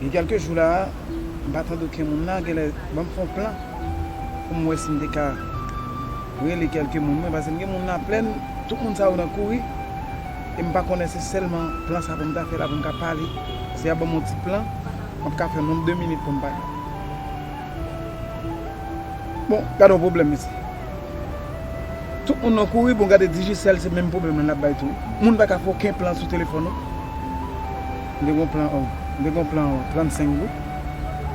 Gen kèlke jou la a, m pa tande oken moun la, genlè ban m fè yon plan pou m wè si m te ka rele kèlke moun mwen pase m gen moun nan plèn, tout moun sa yo nan kouri e m pa konnen se sèlman plan sa pou m ta fè la pou m ka pale, si y ap ban m yon ti plan m ap ka fè menm 2 minit pou m pale. Bon gade yon pwoblèm mesi. Tout moun nan kouri bon gade Digicel se menm pwoblèm lan lap bay tou. Moun pa ka fè oken plan sou telefòn ou. M te gen yon plan oh m te gen yon plan 35 goud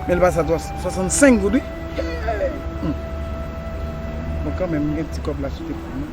men li pase a 65 goud wi hee humm bon kanmenm m gen ti kòb la sou telefòn lan.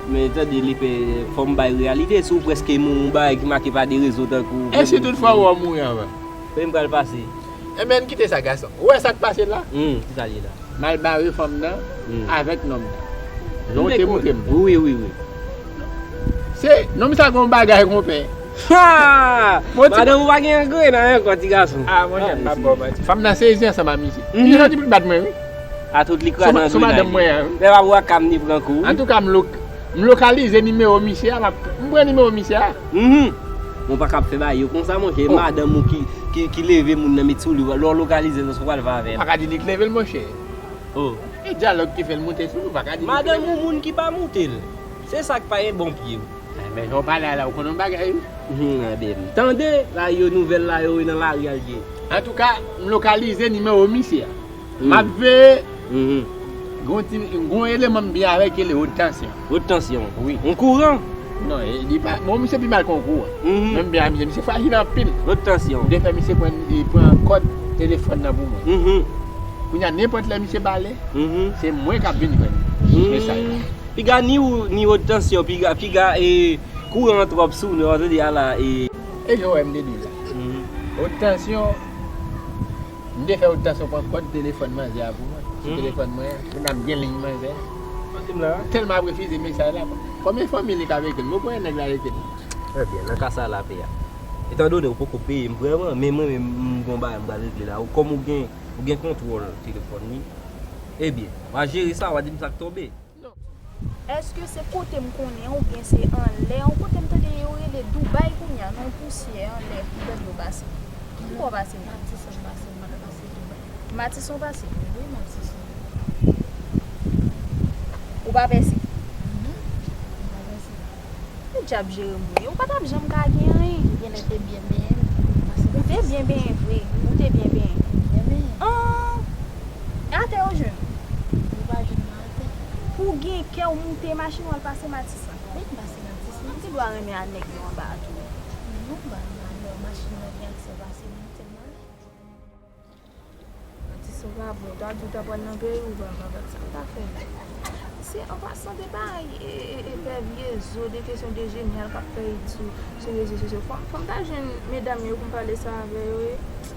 Men tande lepè, fò m bay reyalite, si w prèske mouri yon bagay ki make pa de rezon tankou vle mouri. E si tout fwa ou an mouri anvan? Kote m pral pase? Enben, kite sa gason. Ou wè sa k pase la? Hum, ki sa l ye la? M al bare fanm nan avèk nonm nan. Jan w te montre m. Wi, wi, wi. Se, nonm sa gen yon bagay konpè. Ha! Madanm ou pa gen angren nan ankò ti gason. A monchè, m pa p ba w manti. Fanm nan sezi ansanm ak misye. Li santi pou l bat mwen wi. A tout li kraze nan grenay li. Lè wap wè cam li pran kou wi. Antouka m lokalize nimewo misye a m pran nimewo misye a. Mwen pa kab fè bagay yo konsa monchè e madanm ou ki leve moun nan met sou li lè w lokalize l ou pral fè avè l. Ou paka di li k leve l monchè. E dyalòg ki fè l moute sou li ou paka di li k leve l. Madanm ou moun ki pa moute l. Se sa k pa gen bon pye wi. Men jan w pale a la ou konn on bagay wi. Gade m. Tande bagay yo nouvèl la yo wi nan lari a l ye. Antouka m lokalize nimewo misye a. Map veye Gon eleman m byen avèl ki rele haute tension. Haute tension? Wi. Yon kouran? Non li pa bon misye pi mal ke yon kouran. Men m byen avè misye. Misye frajil anpil. Haute tension. M te fè misye pran kòd telefòn nan pou mwen. Kounya nenpòt lè misye pale se mwen kap vin jwenn mesaj la. Piga ni ou ni haute tension piga piga e kouran an twòp sou nou. Wap di ala e. E jan ou wè m te di w la. Haute tension. M te fè ou ta sou pran kòd telefòn manzè a pou mwen sou telefòn mwen an pou n ap gen liy manzè a. M tèlman ap refize mesaj la. Konbyen fanmi li k ap ekri m? Ou konnen nèg la ekri m? Trè byen, nan ka sa a l ape a. Etandone ou poko peye m vrèman, men mwen menm m gon bagay m pral regle la. Kòm ou gen kontwòl telefòn li, ebyen, w a jere sa, w a di m sa k tonbe. non. Eske se kotem konnen ou byen se anlè yon kote m tande yo rele Dubai kounya nan yon pousyè anlè bèt yo pase ki bò pase m Matisson pase m pat pase Dubai Matisson pase wi Matisson ou pa pèse non m pa pèse ki djab Jerem ou ye ou pa tap janm ka gen anyen ou genlè te byen benyen m ou te byen benyen vre ou te byen benyen m byen benyen an e atè yo jwenn ou pa jwenn. Pou gen kè ou moute machin wal pase matisan. Mwen ki pase matisan. Ou gen dwa renmen a nèg yo anba a tou. Men nou ban malè machin nan gen aksè pase moute m ale. Atis ou pa bon. Ta di ou ta pral nan peyi ou pa va gad sa ou ta fè la. Se an pasan de bay epèvye zo de kesyon de jenyal kap fè it sou rezo sosyo. Fòm ta jwenn medam yo pou m pale sa avè yo e.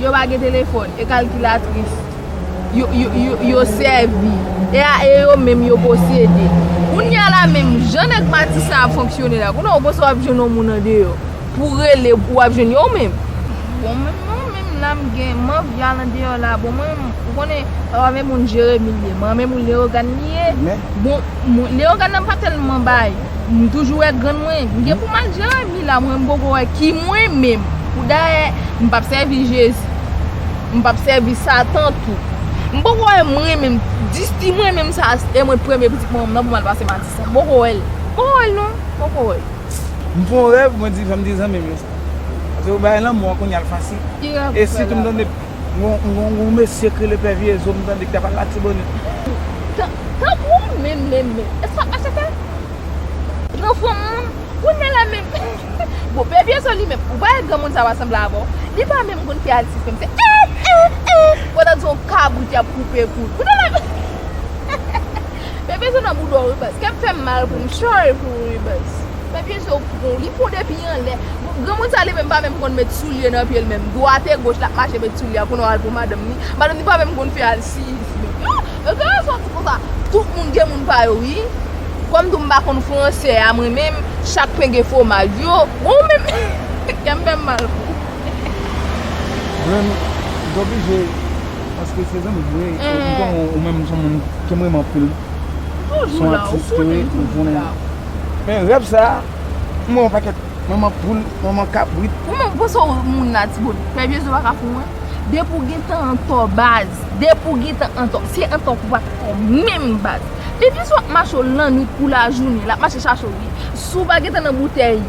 Yo pa gen telefòn, e kalkilatris yo sèvi, e a e yo menm yo posede. Kounye a la menm jan nèg Matisan ap fonksyone la, kounye a ou panse w ap jwenn yon moun andeyò pou w rele ou ap jwenn yo menm? Bon menm mwen menm la m gen man vyal andeyò la, bon mwen menm ou konnen sa pa menm moun Jeremi l ye, man menm moun Leyogàn li ye, bon Leyogàn nan m pa tèlman bay, m toujou wè grann mwen, m gen pou m al Jeremi. Ki la mwen m poko wè ki mwen menm pou dayè m pap sèvi jezi m pap sèvi satan tou m poko wè mwen menm disti mwen menm sa e mwen premye pitit mwen nan pou mal pase matisan m poko wèl m poko wèl non m poko wèl. M fon rèv mwen di janm di zanmim yo sa paske yo bay lanmou an kounya l fasil e sitou m tande gon gon mesye k rele pè vyezo m tande ki tap al latibonit. Tankou menm menm menm. Eske sa ap mache fè? Gran fanm moun, kounya la menm Bon pè Pyèson li menm, ou pa wè granmoun sa pa sanble avè w Li pa menm konn fè atis menm se eeh eeh eeh Ou tande son kabrit y ap koupe kou l Kounye la menm Pè Pyèson nan bouda w wi baz Kè m fè m mal pou m sòry pou ou wi baz Pè Pyèson pran w, li pran w depi anlè Bon granmoun sa li menm pa menm konn met soulye nan pye l menm Dwat e goch l ap mache met soulye a Kounye w al pou madanm ni Madanm ni pa menm konn fè alsiyis menm Yo gen rezon di konsa. Tout moun gen moun pa yo wi. Kom tou m pa konn fransè a mwen menm, chak pen gen fwomaj yo. Bon ou menm kè m fè m mal pou ou. Mwen menm m t oblije paske se zanmi m wi m konnen ou menm ou son moun ke m renmen anpil. M toujou la ou konnen m toujou la. Men rèv sa m wè yon pakèt manman poul, manman kabrit. Ou menm ou panse w moun la ti boni. Pè Jezi ou pa ka fou mwen. Depi w gen tan an to baz. Depi w gentan antò, se antò pou w pa t fè menm baz. Pi plis w ap mache w lannwit kou lajounen, l ap mache chache w wi. Si w pa gentan nan boutèy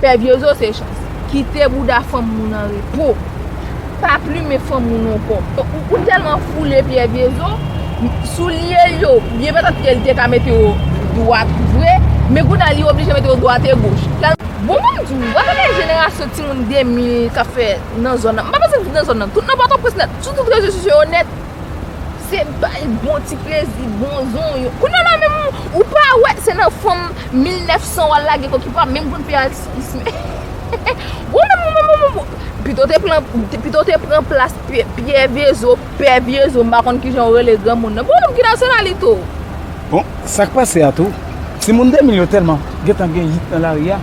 pè vyozo se chans. Kite bouda fanm moun an repo. Pa plumen fanm moun ankò. Ou tèlman foule pè vyozo, soulye l yo, byen patat ke l te ka mete yo dwat vre, men kounye a li oblije mete yo dwat e goch. Bon banm di w, wap wè gen jenerasyon timoun 2000 k ap fè. nan zòn nan. M pa panse tout nan zòn nan. Tout nan Pòtoprens nèt. Sou tout rezo sosyo yo nèt. Se bay bon ti plezi, bon zon. Kounya la menm ou pa wè se nan fanm 1900 wal lage kò ki pa menm konn fè atis men. Ou menm ou menm ou menm. Pito te pran pito te pran plas pyè vyezo, pè vyezo m pa konn ki jan ou rele granmoun nan. Bon ou menm ki nasyonalite ou? Bon sak pase a tou. Timoun 2000 yo tèlman gentan gen yit nan lari a.